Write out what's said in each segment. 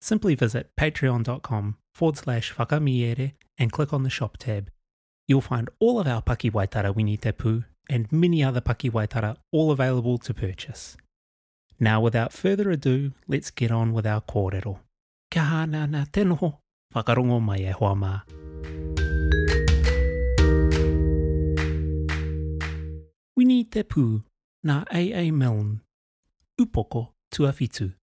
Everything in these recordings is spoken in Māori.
Simply visit patreon.com forward slash whakamiere and click on the shop tab. You'll find all of our pakiwaitara wini te pū and many other pakiwaitara all available to purchase. Now without further ado, let's get on with our kōrero. Kia hānea ana te noho, whakarongo mai e hoa mā. Wini te pū, nā AA Milne. Upoko tuawhitu.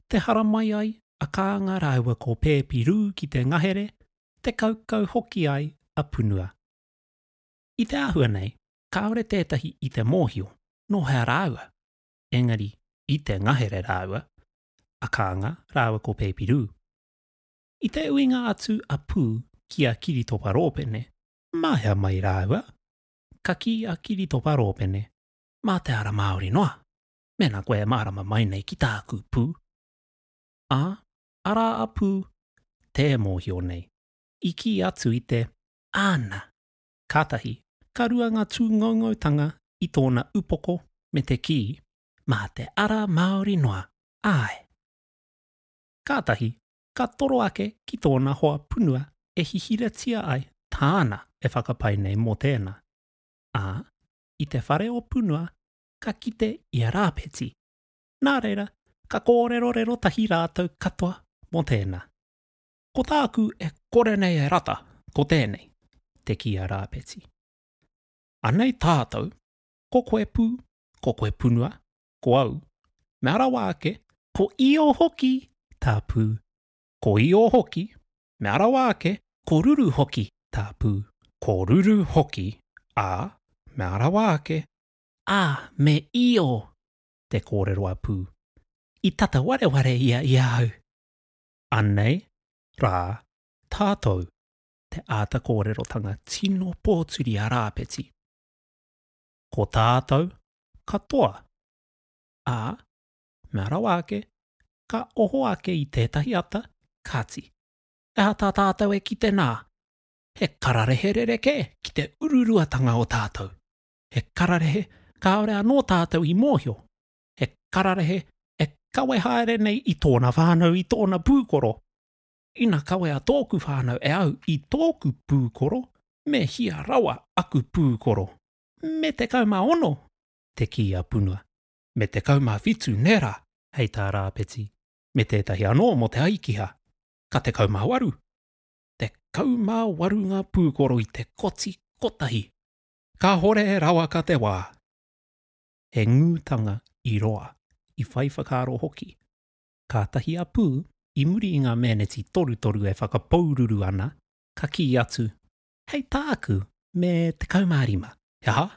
te haramai ai a Kānga rāua ko Pēpi Rū ki te ngahere, te kaukau hoki ai a Punua. I te āhua nei, kāore tētahi i te mōhio nō hea rāua, engari i te ngahere rāua a Kānga rāua ko Pēpi Rū. I te uinga atu a Pū ki a Kiritopa Rōpene, mā hea mai rāua, ka kī a Kiritopa Rōpene, mā te ara Māori noa. mēnā koe e mārama mai nei ki tāku pū. Ā, arā a Pū, tē mōhio nei, i kī atu i te, Āna! Kātahi, ka rua ngā tūngoungoutanga i tōna upoko me te kī, Mā te ara Māori noa, āe! Kātahi, ka toro ake ki tōna hoa punua e hihiratia ai tāna e whakapae nei mō tēnā, ā, i te whare o Punua ka kite i a Rāpeti. Nā reira, ka kōrerorero tahi rātou katoa mō tēnā. Ko tāku e kore nei e rata, ko tēnei, te kī a Rāpeti. Anei tātou, ko koe pū, ko koe punua, ko au, mea rawa ake, ko Io hoki, tā Pū, ko Io hoki, mea rawa ake, ko Ruru hoki, tā Pū, ko Ruru hoki, ā, mea rawa ake, ā, me Io, te kōrero a Pū. I tata wareware ia i ahau. Anei rā tātou te āta kōrerotanga tino pōturi a Rāpeti. Ko tātou katoa, ā, mea rawa ake, ka oho ake i tētahi ata, kāti, ehā tā tātou e kite nā, he kararehe rerekē ki te ururuatanga o tātou. he kararehe kāore anō tātou i mōhio, he kararehe e kawe haere nei i tōna whānau, i tōna pūkoro. Ina kawea tōku whānau e au i tōku pūkoro, me hia rawa aku pūkoro. Me 16, te kī a Punua. Me 17 nē rā, hei tā Rāpeti, me tētahi anō mō te aikiha. Ka 18. Tekau mā waru ngā pūkoro i te koti kotahi. Kahore rawaka te wa. He ngutanga i roa, i whai whakaaro hoki. Katahi a Pu, i muri i nga meneti torutoru e whakapoururu ana, ka ki atu, Hei taaku, me tekau ma rima. He aha?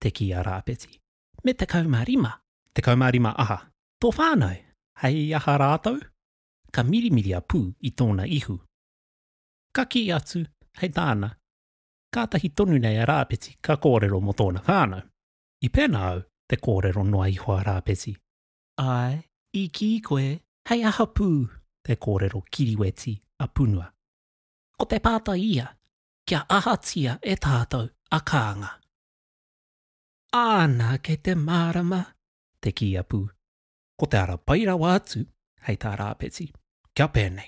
te ki a Raapeti. Me tekau ma rima? Tekau ma rima aha? To whanau? Hei aha raatou? Ka mirimiri a Pu i tona ihu. Ka ki atu, Hei taana, kātahi tonu nei a Rāpeti ka kōrero mō tōna whānau. I pēnā au, te kōrero noa iho a Rāpeti. Āe, i kī koe, hei aha pū? te kōrero kiriweti a Punua. Ko te pātai ia, kia ahatia e tātou a Kānga? Āna, kei te mārama, te kī a Pū. Ko te ara pai rawa atu, hei tā Rāpeti, kia pēnei.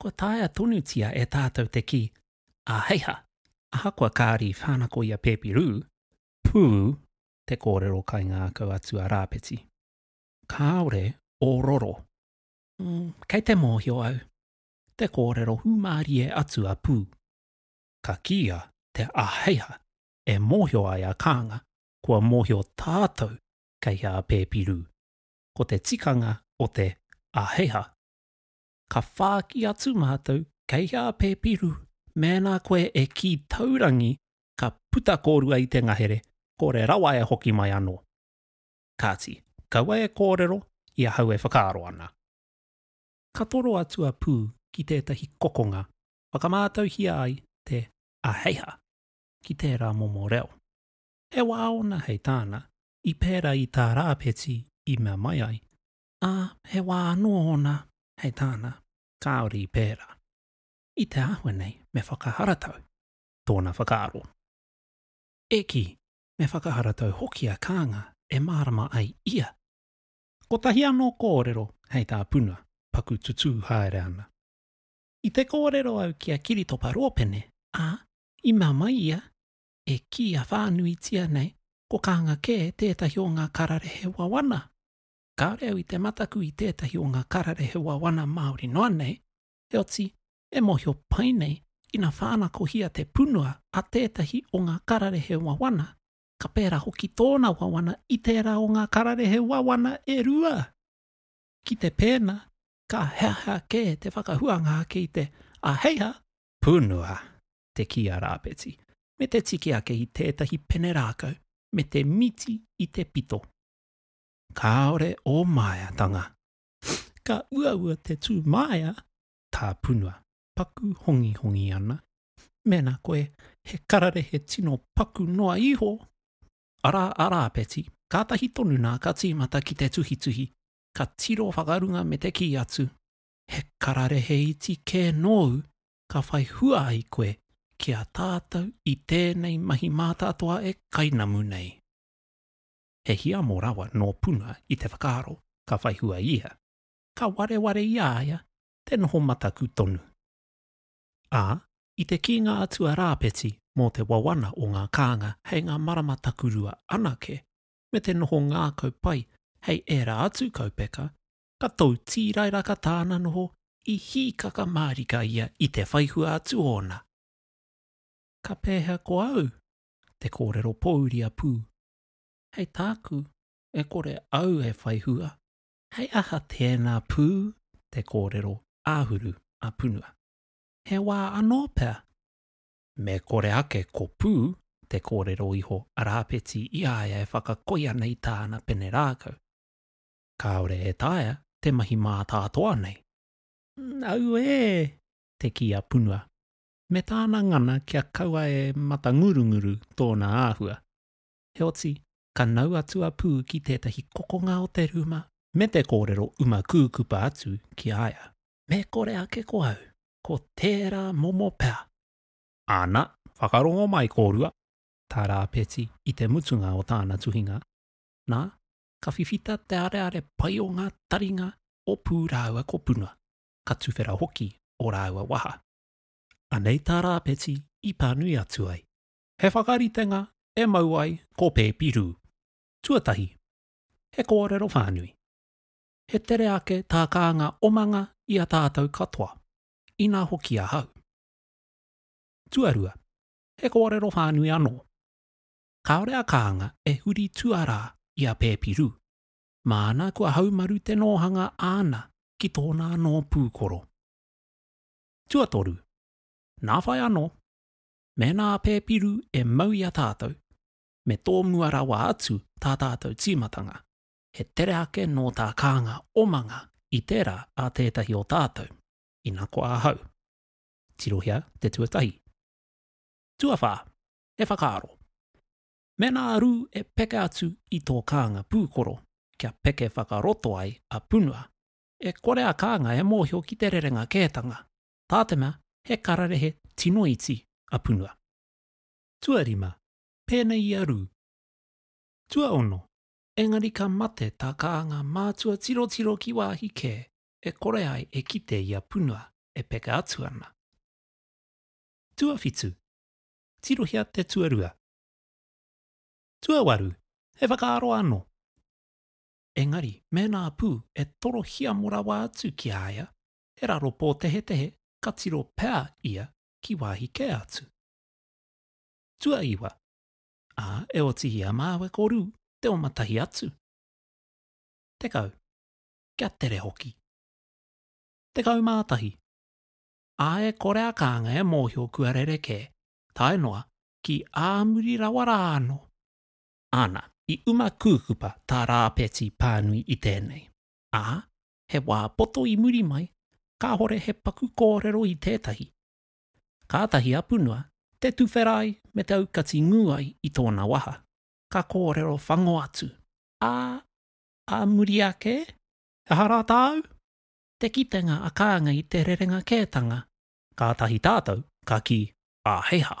Kua taea tonutia e tātou te kī, Āheiha! Ahakoa kāre i whānako i a Pēpi Rū, pū te kōrero kaingākau atu a Rāpeti. Kāore ō roro. Ū, kei te mōhio au, te kōrero hūmārie atu a Pū. Ka kīia te Āheiha e mōhio ai a Kānga kua mōhio tātou kei a Pēpi Rū. Ko te tikanga o te Āheiha. ka whāki atu mātou kei hea a Pēpiru mēnā koe e kī taurangi ka puta kōrua i te ngahere, kore rawa e hoki mai anō. Kāti, kaua e kōrero i ahau e whakaaro ana. Ka toro atu a Pū ki tētahi kokonga whakamātauhia ai te aheiha ki tērā momo reo. He wā ōna hei tāna, i pērā i tā Rāpeti i mea mai ai, ā, he wā anō ōna hei tāna, kāore i pērā. I te āhua nei me whakaharatau tōna whakaaro. E kī, me whakaharatau hoki a Kānga e mārama ai ia. Kotahi anō kōrero hei tā Puna paku tutū haere ana. I te kōrero au ki a Kiritopa Rōpene, ā, i mea mai ia, e kīia whānuitia nei ko Kānga kē tētahi o ngā kararehe wawana Kāore au i te mataku i tētahi o ngā kararehe wawana Māori noa nei, heoti, e mōhio pai nei, ina whānakohia te punua a tētahi o ngā kararehe wawana, ka pērā hoki tōna wawana i tērā o ngā kararehe wawana e rua. Ki te pēnā, ka heahea kē te whakahuanga ake i te āheiha, punua, te kī a Rāpeti, me te tiki ake i tētahi pene rākau me te miti i te pito. Kāore ō māeatanga. Ka uaua te tū māea tāpunua. Paku hongihongi ana. Mēnā koe he kararehe tino paku noa iho, arā a Rāpeti, kātahi tonu nā ka tīmata ki te tuhituhi, ka tiro whakarunga me te kī atu, He kararehe iti kē nōu ka whai hua ai koe ki a tātou i tēnei mahi mātātoa e kainamu nei. he hiamo rawa nō Puna i te whakaaro ka whai hua ia, ka wareware i a ia te noho mataku tonu. Ā, i te kī ngā atua Rāpeti mō te wawana o ngā kānga hei ngā marama takurua anake, me te noho ngākau pai hei ērā atu kaupeka, ka tou tīrairaka tāna noho i hīkaka mārika ia i te whai hua atu ōna. Ka pēhea ko au? te kōrero pōuri a Pū, Hei tāku, e kore au e whai hua. Hei aha tēnā pū te kōrero āhuru a Punua? He wā anō pea me kore ake ko Pū te kōrero iho a Rāpeti i a ia e whakakoi ana i tāna pene rākau. Kāore e taea te mahi mātātoa nei. Auē! te kī a Punua, me tāna ngana kia kaua e matangurunguru tōna āhua. Heoti, ka nau atu a Pū ki tētahi kokonga o te rūma, me te kōrero uma kūkupa atu ki a ia, Me kore ake ko au, ko tērā momo pea! Ana, whakarongo mai kōrua tā Rāpeti i te mutunga o tāna tuhinga, nā, ka whiwhita te areare pai o ngā taringa o Pū rāua ko Puna, ka tuwhera hoki ō rāua waha. Anei tā Rāpeti i pānui atu ai, He whakaritenga e mau ai ko Pēpi Rū. Tuatahi, he kōrero whānui. He tere ake tā kānga omanga i a tātou katoa, inā hoki ahau. Tuarua, he kōrero whānui anō. Kāore a kānga e huri tuarā i a Pēpi Rū, māna kua haumaru te nōhanga āna ki tōna anō pūkoro. Tuatoru, nā whai anō, Mēnā a Pēpiru e mau i a tātou, me tōmua rawa atu tā tātou tīmatanga, he tere ake nō tā kānga omanga i tērā a tētahi o tātou, ina koa ahau. Tirohia te tuatahi. Tuawhā, he whakaaro. Mēnā a Rū e peke atu i tō kānga pūkoro kia peke whakaroto ai a Punua, e kore a kānga e mōhio ki te rerenga kētanga, Tātena he kararehe tino iti a Punua. Tuarima, pēnei i a Rū. Tuaono, engari ka mate tā Kānga mātua tirotiro ki wāhi kē e kore ai e kite i a Punua e peka atu ana. Tuawhitu, tirohia te tuarua. Tuawaru, he whakaaro anō. Engari mēnā a Pū e toro hiamo rawa atu ki a ia, he raro pōtehetehe ka tiro pea ia ki wāhi kē atu. Tuaiwa, ā, e oti i a māua ko Rū te oma tahi atu. Tekau, kia tere hoki. Tekau mā tahi, ā, e kore a Kānga e mōhio kua rerekē tae noa ki ā muri rawa rā anō. Ana, i uma kūkupa tā Rāpeti pānui i tēnei, ā, he wā poto i muri mai, kāhore he paku kōrero i tētahi. Kātahi a Punua te tuwhera ai me te aukati ngū ai i tōna waha, ka kōrero whango atu. Ā, ā muri ake, aha rā tāu? Te kitenga a Kānga i te rerenga kētanga. Kātahi tātou ka kī, Ā, hei hā.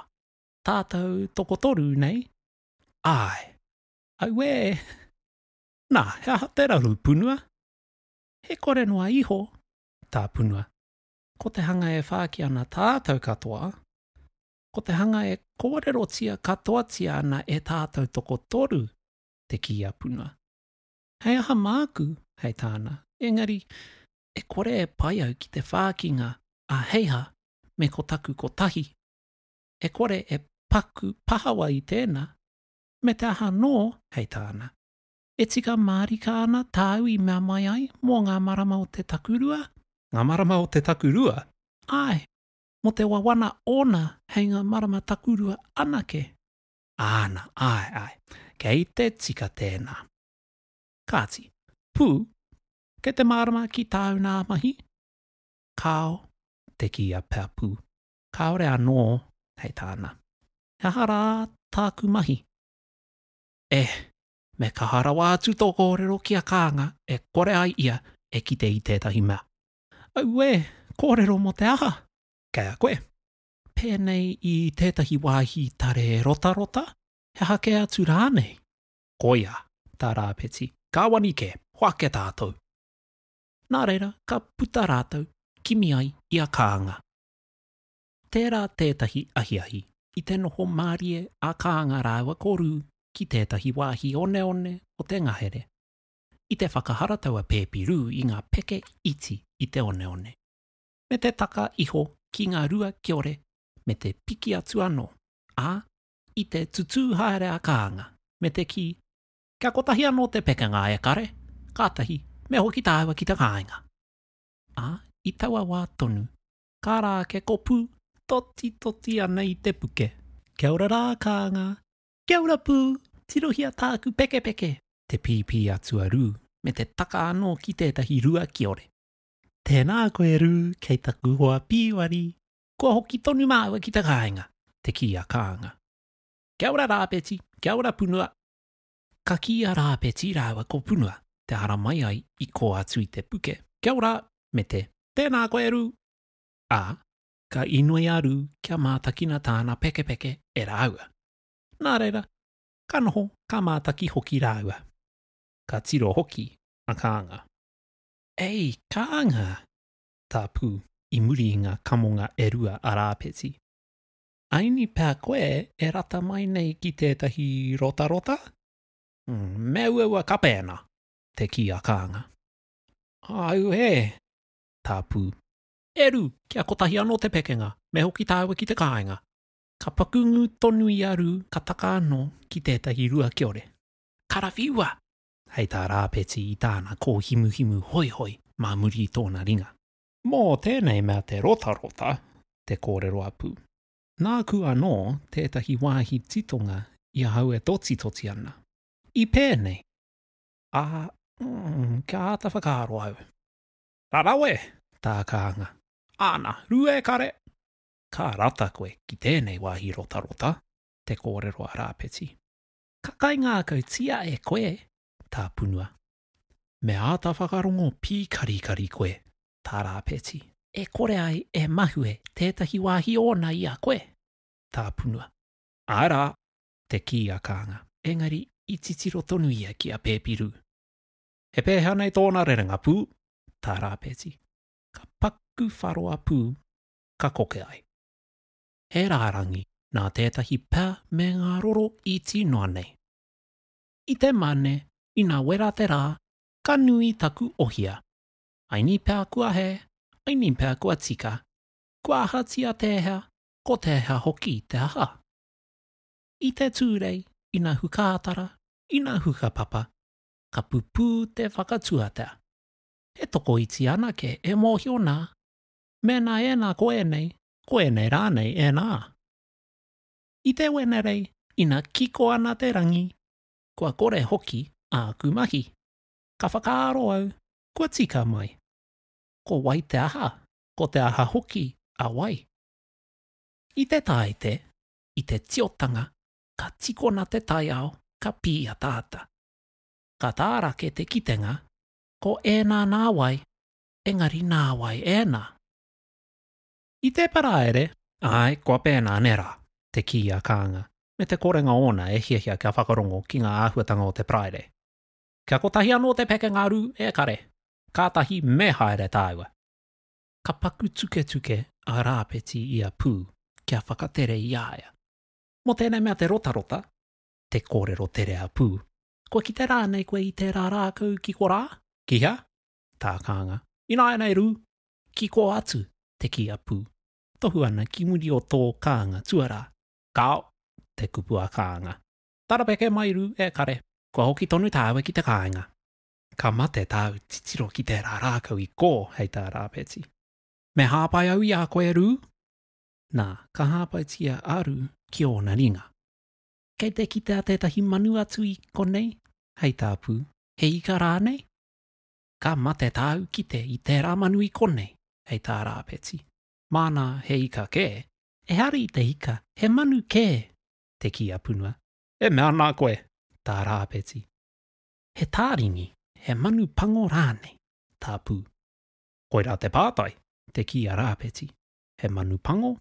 Tātou tokotoru nei? Āe. Auē! Nā, he aha te raru, Punua? He kore noa iho, tā Punua. Ko te hanga e whāki ana tātou katoa, ko te hanga e kōrerotia katoatia ana e tātou tokotoru, te kī a Punua. He aha māku, hei tāna, engari e kore e pai au ki te whākinga a Heiha me ko taku kotahi, e kore e paku pahawa i tēnā, me te aha anō, hei tāna. E tika mārika ana tāu i mea mai ai mō ngā marama o te takurua? Ngā marama o te takurua? Āe, mō te wawana ōna hei ngā marama takurua anake. Āna, āe, āe, kei te tika tēnā. Kāti, pū, kei te mārama ki tāu nā mahi? Kāo, te kī a Peapū. Kāore anō, hei tāna. He aha rā tāku mahi? Eh, me kaha rawa atu tō kōrero ki a Kānga e kore ai ia e kite i tētahi mea. Auē, kōrero mō te aha? Kei a koe. Pēnei i tētahi wāhi tare rotarota, he aha kē atu rānei? Koia, tā Rāpeti, kāwani kē, hoake tātou. Nā reira, ka puta rātou, kimi ai i a Kānga. Tērā tētahi ahiahi. I te noho mārie a Kānga rāua ko Rū ki tētahi wāhi oneone o te ngahere. I te whakaharatau a Pēpi Rū i ngā peke iti i te oneone, me te taka iho ki ngā rua kiore me te piki atu anō, ā, i te tutū haere a Kānga me te kī, Kia kotahi anō te pekenga e kare, kātahi me hoki tāua ki te kāinga. Ā, i taua wā tonu, Ka ra ke kopu, toti toti ana i te puke. Kia ora ra Kaanga. Kia ora pu, tirohia taaku pekepeke. Te pipi a Tuaru me te taka ano ki tetahi rua kiore. Tēnā koe Rū, kei taku hoa pīwari. Kua hoki tonu māua ki te kāinga, te kī a Kaanga. Kia ora Rāpeti, kia ora Punua. Ka kī a Rāpeti rāua ko Punua te hara mai ai i kō atu i te puke, Kia ora! me te, Tēnā koe, Rū! Ā, ka inoi a Rū kia mātakina tāna pekepeke e rāua. Nā reira, ka noho, ka mātaki hoki rāua. Ka tiro hoki a Kānga. Ei, Kānga! tā Pū, i muri i ngā kamonga e rua a Rāpeti. Aini pea koe e rata mai nei ki tētahi rotarota? Me uaua kapēna, te kī a Kānga. Auē! tā Pū. E Rū, kia kotahi anō te pekenga, me hoki tāua ki te kāinga. Ka paku ngū tonu i a Rū ka taka anō ki tētahi rua kiore. Karawhiua! hei tā Rāpeti i tāna kōhimuhimu hoihoi mā muri i tōna ringa. Mō tēnei mea te rotarota te kōrero a Pū. Nāku anō tētahi wāhi titonga i ahau e totitoti ana. I pēnei. Ā, kia āta whakaaro au. Ka rawe tā kānga. Āna, rua e kare! Ka rata koe ki tēnei wāhi rotarota, te kōrero a Rāpeti. Ka kaingākautia e koe tā Punua. Me āta whakarongo pīkarikari koe, tā Rāpeti. E kore ai e mahue tētahi wāhi ōna i a koe, tā Punua. Āe rā, te kī a Kānga. Engari i titiro tonu ia ki a Pēpiru. He pēhea nei tōna rerenga pū? tā Rāpeti. Ka paku wharo a Pū, ka koke ai. He rārangi nā tētahi pea me ngā roro iti noa nei. i te mane ina wera te ra ka nui taku ohia. Aini pea kua he, aini pea kua tika, kua ahatia tehea ko tehea hoki te aha. I te turei ina hukatara, ina hukapapa, ka pupu te whakatuatea. E tokoiti ana ke e mohio na, mena ena ko enei, ko enei ranei ena. I te Wenerei, ina kiko ana te rangi, kua kore hoki āku mahi. Ka whakaaro au, kua tika mai. Ko wai te aha, ko te aha hoki a wai? I te tāite, i te tiotanga, ka tikona te taiao, ka pīataata. Ka tārake te kitenga, ko ēnā nā wai, engari nā wai ēnā? I te Paraire? Āe, kua pēnā ne rā? te kī a Kānga, me te korenga ōna e hiahia kia whakarongo ki ngā āhuatanga o te Paraire. Kia kotahi anō te pekenga rū e kare, kātahi me haere tāua. Ka paku tuketuke a Rāpeti i a Pū kia whakatere i a ia. Mō tēnei mea te rotarota, te kōrero tere a Pū, Kua kite rānei koe i tērā rākau ki korā? Ki hea? Tākānga. Ināianei rū, kiko atu te kī a Pū. Tohu ana ki muri o tō kānga tuarā. Kāo, te kupu a Kānga. Tarapeke mai rū e kare. Kua hoki tonu tāua ki te kāinga. Ka mate tāu titiro ki tērā rākau i kō, hei tā Rāpeti. Me hāpai au i a koe rū? Nā, ka hāpaitia a Rū ki ōna ringa. Kei te kitea tētahi manu atu i konei, hei tā Pū. He ika rānei? Ka mate tāu kite i tērā manu i konei, hei tā Rāpeti. Māna he ika kē. Ehara te ika, he manu kē, te kī a Punua. E mea ana koe, tā Rāpeti. He tāringi, he manu pango rānei, tā Pū. Koirā te pātai, te kī a Rāpeti. He manu pango,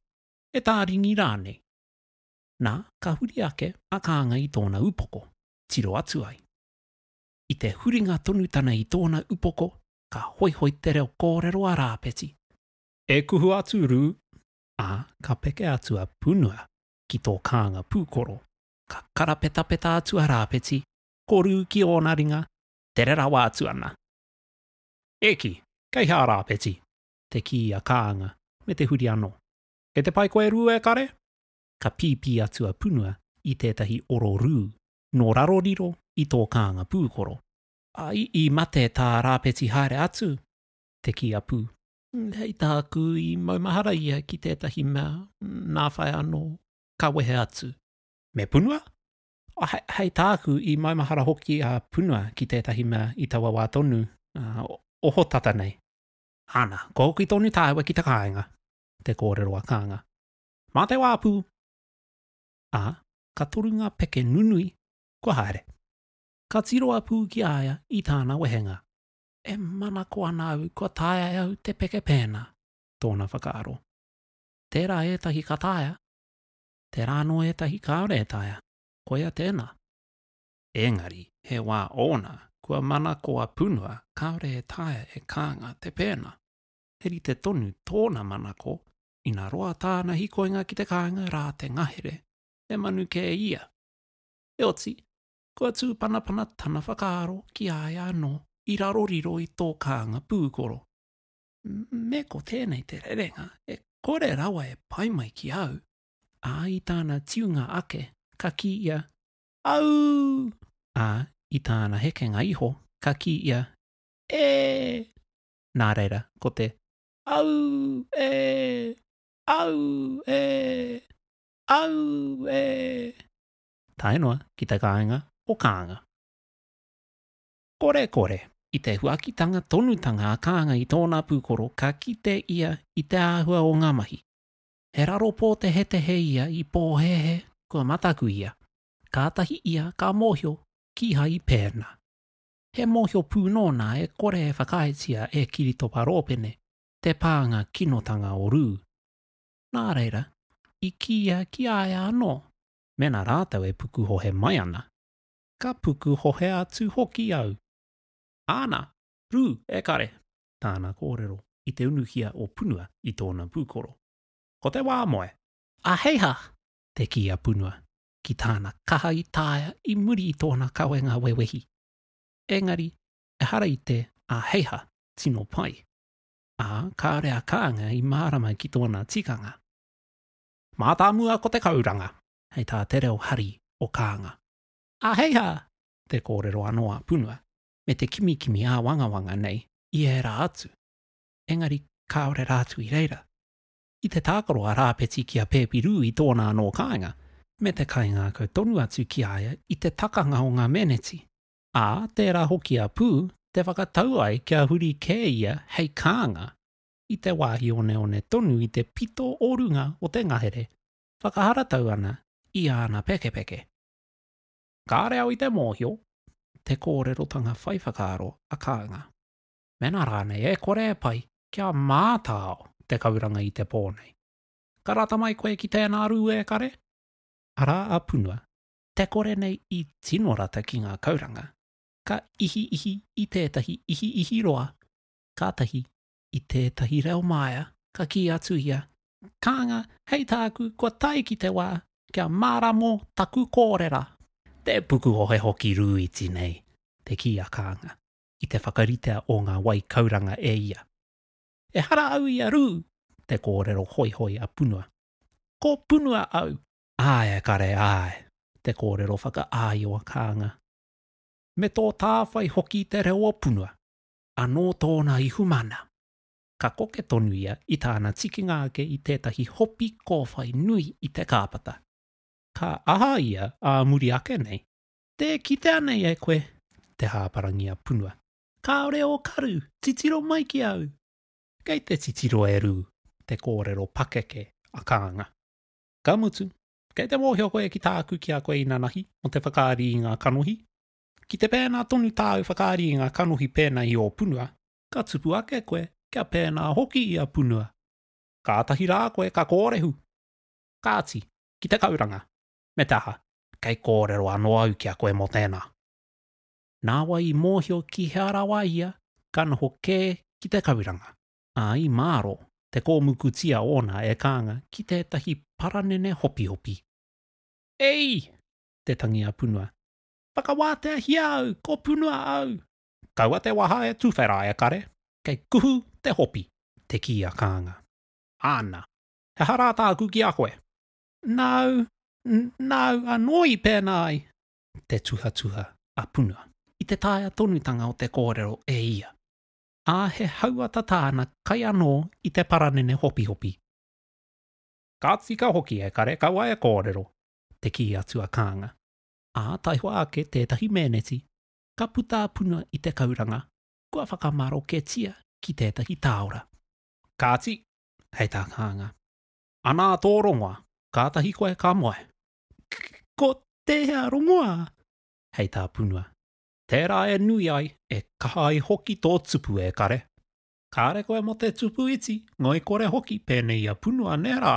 he tāringi rānei. Nā, ka huri ake a Kānga i tōna upoko, tiro atu ai. I te huringa tonu tana i tōna upoko, ka hoihoi te reo kōrero a Rāpeti. E kuhu atu Rū, ā, ka peke atu a Punua ki tō kānga pūkoro. Ka karapetapeta atu a Rāpeti, ko Rū ki ōna ringa, tere rawa atu ana. E kī, kei hea Rāpeti? te kī a Kānga, me te huri anō. Kei te pai koe Rū e kare? Ka pīpī atu a Punua i tētahi oro rū, nō raro riro i tō kānga pūkoro. I, i mate tā Rāpeti haere atu, te kī a Pū. Hei tā aku i maumahara ia ki tētahi mea, nā whai anō, ka wehe atu. Me Punua? He, hei tā aku i maumahara hoki a Punua ki tētahi mea i taua wā tonu, ohotata nei. Ana, kua hoki tonu tāua ki te kāinga, te kōrero a Kānga. Mā te wā, Pū! ā, ka toru ngā peke nunui kua haere. Ka tiro a Pū ki a ia i tāna wehenga. E manako ana au kua taea e au te peke pēnā, tōna whakaaro. Tērā ētahi ka taea, tērā anō ētahi kāore e taea, koia tēnā. Engari, he wā ōna kua manako a Punua kāore e taea e Kānga te pēnā. He rite tonu tōna manako ina roa tāna hikoinga ki te kāinga rā te ngahere, he manu kē ia. Heoti, kua tūpanapana tana whakaaro ki a ia anō i raro riro i tō kānga pūkoro. Me ko tēnei te rerenga e kore rawa e pai mai ki au. Ā, i tāna tiunga ake, ka kī ia, Au! Ā, i tāna hekenga iho, ka kī ia, E! Nā reira, ko te Au e! Au e! Au e! Tae noa ki te kāinga o Kānga. Kore kore! I te huakitanga tonutanga a Kānga i tōna pūkoro ka kite ia i te āhua o ngā mahi. He raro pōtehetehe ia i pōhēhē, kua mataku ia. Kātahi ia ka mōhio kīhai pēnā. He mōhio pū nōna e kore e whakaaetia e Kiritopa Rōpene te pānga kinotanga o Rū. Nā reira, i kīia ki a ia anō, mēnā rātou e pukuhohe mai ana, ka pukuhohe atu hoki au. Āna, Rū, e kare! tāna kōrero i te unuhia o Punua i tōna pūkoro. Ko te wā moe! Aheiha! te kī a Punua, ki tāna kaha i taea i muri i tōna kawenga wewehi. Engari, ehara i te āheiha tino pai, ā, kāore a Kānga i mārama ki tōna tikanga. Mātāmua ko te kauranga, hei tā te reo hari o Kānga. Āheiha! te kōrero anō a Punua, me te kimikimi āwangawanga nei i ērā atu. Engari kāore rātou i reira. i te tākaro a Rāpeti ki a Pēpirū i tōna anō kāinga, me te kaingākau tonu atu ki a ia i te takanga o ngā meneti, ā, tērā hoki a Pū te whakatau ai kia huri kē ia hei kānga i te wāhi oneone tonu i te pito o runga o te ngahere whakaharatau ana i āna pekepeke. Kāore au i te mōhio te kōrerotanga whai whakaaro a Kānga. mēnā rānei e kore e pai kia mātao te kauranga i te pō nei. Ka rata mai koe ki tēnā rū e kare? Arā a Punua, te kore nei i tino rata ki ngā kauranga, ka ihiihi i tētahi ihiihi roa, kātahi i tētahi reo māia ka kī atu ia, Kānga, hei tāku kua tae ki te wā kia māramo taku kōrera! Te puku ohe hoki rūiti nei, te kī a Kānga. i te whakaritea o ngā wai kauranga e ia. Ehara au i a Rū! te kōrero hoihoi a Punua. Ko Punua au! Āe e kare, āe! te kōrero whakaāio a Kānga. Me tō tāwhai hoki te reo o Punua. Anō tōna ihumana! Ka koke tonu ia i tāna tikinga ake i tētahi hopi kōwhai nui i te kāpata. Ka aha ia ā muri ake nei? Tē kitea nei e koe te hāparangi a Punua. Kāore ō karu, titiro mai ki au! Kei te titiro e Rū te kōrero pakeke a Kānga. Ka mutu, kei te mōhio koe ki tāku ki a koe inanahi mō te whakaari i ngā kanohi? Ki te pēnā tonu tāu whakaari i ngā kanohi pēnā i ō Punua, ka tupu ake koe kia pēnā hoki i a Punua. Kātahi rā koe ka kōrehu. Kāti, ki te kauranga, Me te aha, kei kōrero anō au ki a koe mō tēnā. Nāwai i mōhio ki hea rawa ia ka noho kē ki te kauranga, ā, i mārō te kōmukutia ōna e kānga ki tētahi paranene hopihopi. Ei! te tangi a Punua. Whakawāteahia au, ko Punua au! Kaua te waha e tuwhera e kare, kei kuhu te hopi, te kī a kānga. Āna. He aha rā tāku ki a koe? Nāu, nāu anō i pēnā ai. Te tuhatuha a Puna. I te taea tonutanga o te kōrero e ia. Ā, he hauata tāna kai anō i te paranene hopihopi. Ka tika hoki e kare kaua e kōrero, te kī atu a Kānga. Ā, taihoa ake tētahi meneti, ka puta a Puna i te kauranga, kua whakamaroketia ki tētahi tāora. Kāti, hei tā Kānga. Ana tō rongoa, kātahi koe ka moe. Ko tēhea rongoa? Hei tā Punua. Tērā e nui ai, e kaha ai hoki tō tupu e kare. Kāre koe mō te tupu iti, ngoikore hoki pēnei i a Punua nē rā?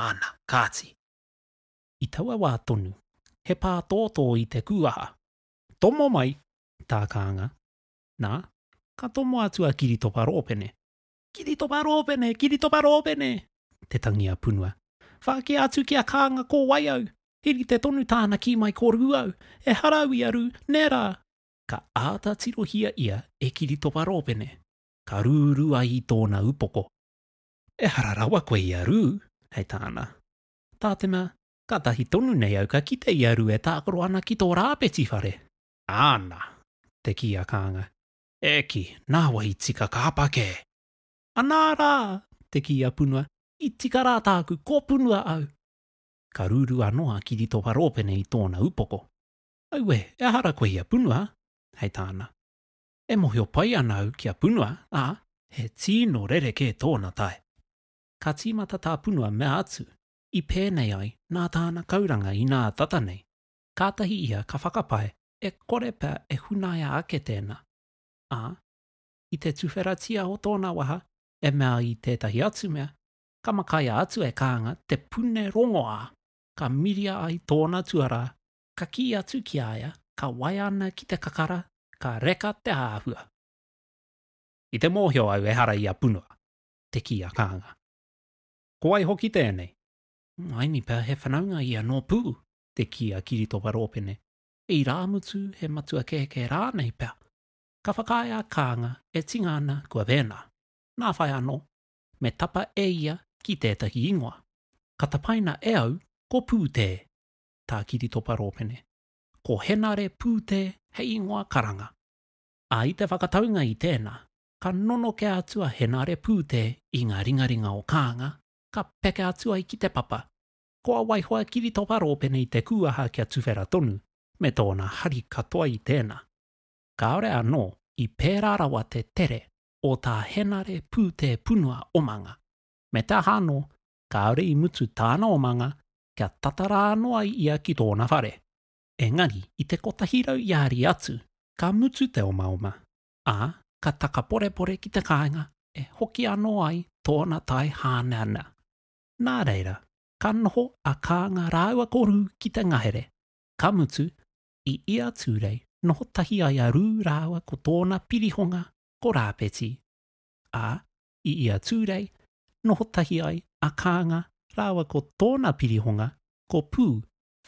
Ana, kāti. I taua wā tonu, he pātōtō i te kūaha. Tomo mai, tā Kānga. Nā, ka tomo atu a Kiritopa Rōpene. Kiritopa Rōpene! Kiritopa Rōpene! Te tangi a Punua. Whākea atu ki a Kānga ko wai au? He rite tonu tāna kī mai ko Rū au. Ehara au i a Rū, nē rā! Ka āta tirohia ia e Kiritopa Rōpene. Ka rūrū ai i tōna upoko. Ehara rawa koe i a Rū, hei tāna. Tātena, kātahi tonu nei au ka kite i a Rū e tākaro ana ki tō Rāpeti whare. Āna! te kī a Kānga. E ki, nāwai i tika ka apa kē. Anā rā! te kī a Punua, i tika rā tāku, ko Punua au! Ka rūrū anō a Kiritopa Rōpene i tōna upoko. Auē, e aha ra koe i a Punua? hei tāna. E mohio pai ana au ki a Punua, ā, he tīno rerekē tōna tae. Ka tīmata tā Punua mea atu, i pēnei ai nā tāna kauranga inā tata nei. kātahi ia ka whakapae e kore pea e hunaia ake tēnā, ā, i te tuwheratia o tōna waha e mea ai tētahi atu mea, ka makaia atu e Kānga te pune rongoā, ka miria ai tōna tuarā, ka kī atu ki a ia ka waiana ki te kakara, ka reka te āhua. I te mōhio au ehara i a Punua, te kī a Kānga. Ko wai hoki tēnei? Maini pea he whanaunga ia nō Pū, te kī a Kiritopa Rōpene, irāmutu he matua kēkē rānei pea. Ka whakaae a Kānga e tinga ana kua vēnā. Nā whai anō, me tapa e ia ki tētahi ingoa. Ka tapaina e au ko Pūtē, tā Kiritopa Rōpene. Ko Henare Pūtē hei ingoa karanga. Ā, i te whakataunga i tēnā, ka nonokea atu a Henare Pūtē i ngā ringaringa o Kānga, ka peke atu ai ki te papa. Ko a Waihoa Kiritopa Rōpene i te kūaha kia tuwhera tonu, me tōna hari katoa i tēnā. Kāore anō i pērā rawa te tere o tā Henare Pūtepunua omanga, me te aha anō, kāore i mutu tāna omanga kia tata rā anō ai ia ki tōna whare. Engari i te kotahi rau iāri atu, ka mutu te omaoma, ā, ka takaporepore ki te kāinga e hoki anō ai tōna tae hāneanea. Nā reira, ka noho a Kānga rāua ko Rū ki te ngahere, ka mutu, i ia tūrei, noho tahi ai a Rū rāua ko tōna pirihonga ko Rāpeti, ā, i ia tūrei, noho tahi ai a Kānga rāua ko tōna pirihonga ko Pū,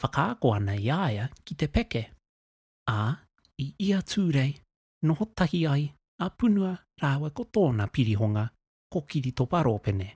whakaako ana i a ia ki te peke, ā, i ia tūrei, noho tahi ai a Punua rāua ko tōna pirihonga ko Kiritopa Rōpene.